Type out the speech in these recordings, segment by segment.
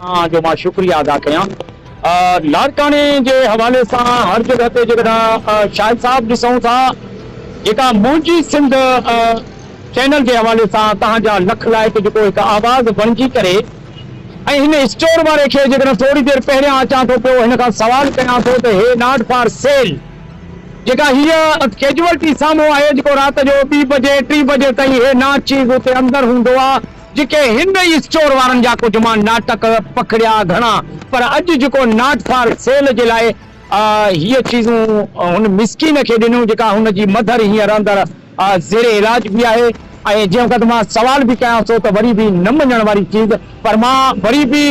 اوهان جو مان شڪريه ادا ڪيان. لاڙڪاڻي جي حوالي سان هر جڳهه تي جيڪڏهن شاهد صاحب ڏسون ٿا جيڪا منهنجي سنڌ چينل جي حوالي سان توهان جا لک لائق جيڪو هڪ آواز بڻجي ڪري ۽ هن اسٽور واري کي جيڪڏهن ٿوري دير پهريان اچان ٿو پيو هن کان سوال ڪيان ٿو ته هي ناٽ فار سيل جيڪا هيء ڪيجوئلٽي سامهون آهي جيڪو رات جو ٻي بجي ٽي بجي تائين هي ناچيز اتي اندر هوندو آ. جيڪي هن ئي اسٽور وارن جا ڪجهه مان ناٽڪ پکڙيا گهڻا پر اڄ جيڪو ناٽ فار سيل جي لاء هيء چيزون هن مسڪين کي ڏنيون جيڪا هن جي مڌر هينئر اندر زير علاج به آهي ۽ جنهن وقت مان سوال به ڪيانس ٿو ته وري به نه مڃڻ واري چيز پر مان وري به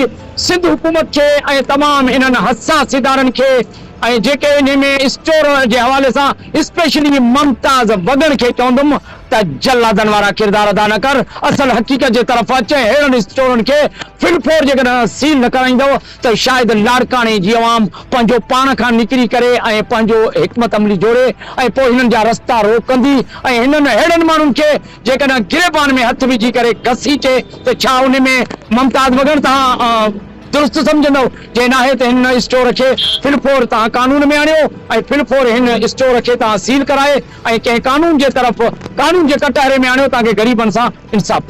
سنڌ حڪومت کي ۽ تمام انهن حساس ادارن کي ۽ جيڪي انهي ۾ اسٽور جي حوالي سان اسپيشلي ممتاز وڳڻ کي چوندم ته جلادن وارا ڪردار ادا نه ڪر، اصل حقيقت جي طرف اچ ۽ ههڙن اسٽورن کي ڦڙ ڦوڙ جيڪڏهن سيل نه ڪرائيندؤ ته شايد لاڙڪاڻي جي عوام پنهنجو پاڻ کان نڪري ڪري ۽ پنهنجو حڪمت عملي جوڙي ۽ پوء هنن جا رستا روڪندي ۽ هنن ههڙن ماڻهن کي جيڪڏهن گريبان ۾ هٿ وجهي ڪري گسيٽي ته ڇا ان ۾ ممتاز وڳڻ توهان درست سمجهندؤ؟ جي ناهي ته هن اسٽور کي ڦڙ ڦوڙ توهان قانون ۾ آڻيو ۽ ڦڙ ڦوڙ هن اسٽور کي توهان سيل ڪرائي ڪنهن قانون جي طرف قانون جي ڪٽهري ۾ آڻيو تانڪه غريبن سان انصاف ٿئي.